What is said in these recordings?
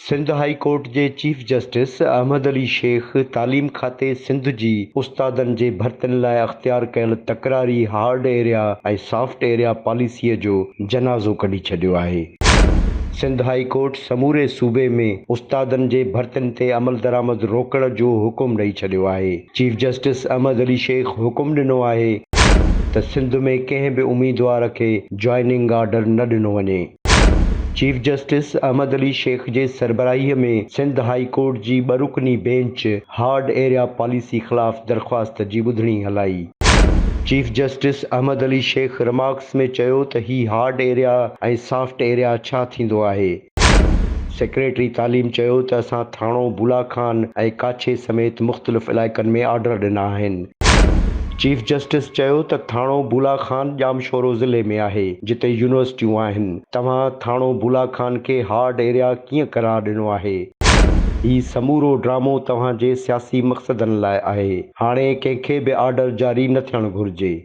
Sindh high court جي chief justice Ahmed Ali Shaikh تعليم کاتي سنڌ جي استادن جي ڀرتين لاء اختيار ڪيل تڪراري هارڊ ايريا ۽ سافٽ ايريا پاليسيء جو جنازو ڪڍي ڇڏيو آهي. سنڌ هاء ڪورٽ سموري صوبي ۾ استادن جي ڀرتين تي عملدرآمد روڪڻ جو حڪم ڏئي ڇڏيو آهي. چيف جسٽس احمد علي شيخ حڪم ڏنو آهي ته سنڌ ۾ ڪنهن به اميدوار کي جوائننگ آرڊر نه ڏنو وڃي. چيف جسٽس احمد علي شيخ جي سربراهي ۾ سنڌ هاء ڪورٽ جي ٻه رڪني بينچ هارڊ ايريا پاليسي خلاف درخواست جي ٻڌڻي هلائي. Chief justice Ahmed Ali Shaikh remarks ۾ چيو ته هي هارڊ ايريا ۽ سافٽ ايريا ڇا ٿيندو آهي؟ سيڪريٽري تعليم چيو ته اسان ٿاڻو بولا خان ۽ ڪاڇي سميت مختلف علائقن ۾ آرڊر ڏنا آهن. چيف جسٽس چيو ته ٿاڻو بولا خان ڄامشورو ضلعي ۾ آهي جتي يونيورسٽيون آهن، توهان ٿاڻو بولا خان کي هارڊ ايريا ڪيئن قرار ڏنو آهي، هي سمورو ڊرامو توهان جي سياسي مقصدن لاء آهي، هاڻي ڪنهن کي به آرڊر جاري نه ٿيڻ گهرجي.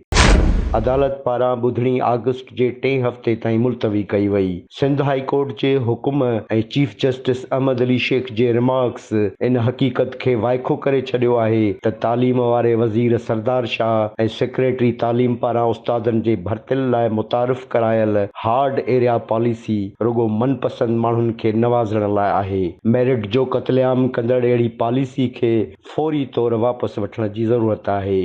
عدالت پاران ٻڌڻي آگسٽ جي ٽئين هفتي تائين ملتوي ڪئي وئي، سنڌ هاء ڪورٽ جي حڪم ۽ چيف جسٽس احمد علي شيخ جي رمارڪس ان حقيقت کي وائکو ڪري ڇڏيو آهي ته تعليم واري وزير سردار شاهه ۽ سيڪريٽري تعليم پاران استادن جي ڀرتين لاء متعارف ڪرايل هارڊ ايريا پاليسي رڳو من پسند ماڻهن کي نوازڻ لاء آهي ميرٽ جو قتل عام ڪندڙ اهڙي پاليسي کي فوري طور واپس وٺڻ جي ضرورت آهي.